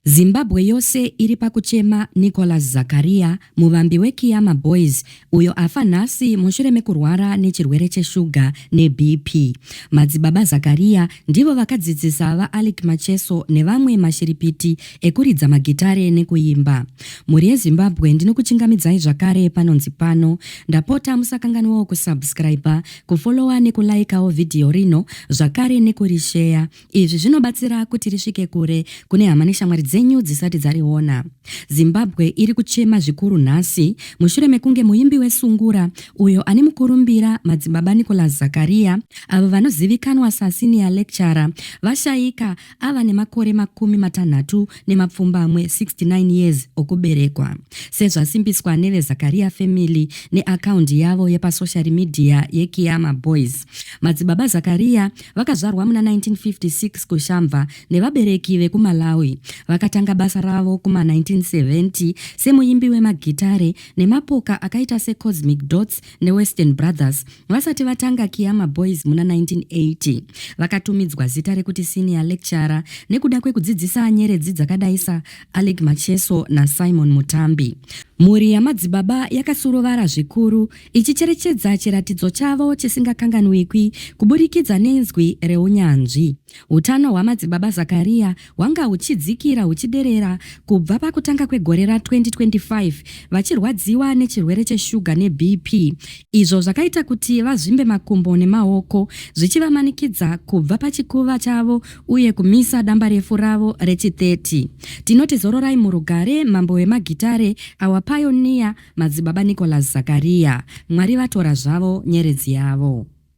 Zimbabwe yose iri pakuchema Nicholas Zakaria, muvambi weKiyama Boys, uyo afa nhasi mushure mekurwara nechirwere cheshuga neBP. Madzibaba Zakaria ndivo vakadzidzisa VaAlick Macheso nevamwe mashiripiti ekuridza magitare nekuimba. Mhuri yeZimbabwe ndinokuchingamidzai zvakare panonzi pano. Ndapota musakanganwawo kusubscriber, kufollower nekulaikawo vhidhiyo rino zvakare nekurisheya Izvi zvinobatsira kuti risvike kure kune hama neshamwari dzenyu dzisati dzariona. Zimbabwe iri kuchema zvikuru nhasi mushure mekunge muimbi weSungura uyo ane mukurumbira Madzibaba Nicholas Zakaria avo vanozivikanwa saSenior Lecturer vashaika ava nemakore makumi matanhatu nemapfumbamwe 69 years okuberekwa. Sezvasimbiswa neveZakaria Family neakaundi yavo yepasoshari media yeKiyama Boys, Madzibaba Zakaria Vakazvarwa muna 1956 kuShamva nevabereki vekuMalawi. Vakatanga basa ravo kuma 1970 semuimbi wemagitare nemapoka akaita seCosmic Dots neWestern Brothers vasati vatanga Kiama Boys muna 1980. Vakatumidzwa zita rekuti Senior Lecturer nekuda kwekudzidzisa nyeredzi dzakadai saAleck Macheso naSimon Mutambi. Mhuri yamadzibaba yakasurovara zvikuru ichicherechedza chiratidzo chavo chisingakanganwikwi kuburikidza nenzwi reunyanzvi. Utano hwaMadzibaba Zakariya hwanga huchidzikira huchiderera kubva pakutanga kwegore ra 2025 vachirwadziwa nechirwere cheshuga neBP izvo zvakaita kuti vazvimbe makumbo nemaoko zvichivamanikidza kubva pachikuva chavo uye kumisa dambarefu ravo rechi 30. Tinoti zororai murugare mambo wemagitare, our pioneer, Madzibaba Nicholas Zakariya, Mwari vatora zvavo nyeredzi yavo.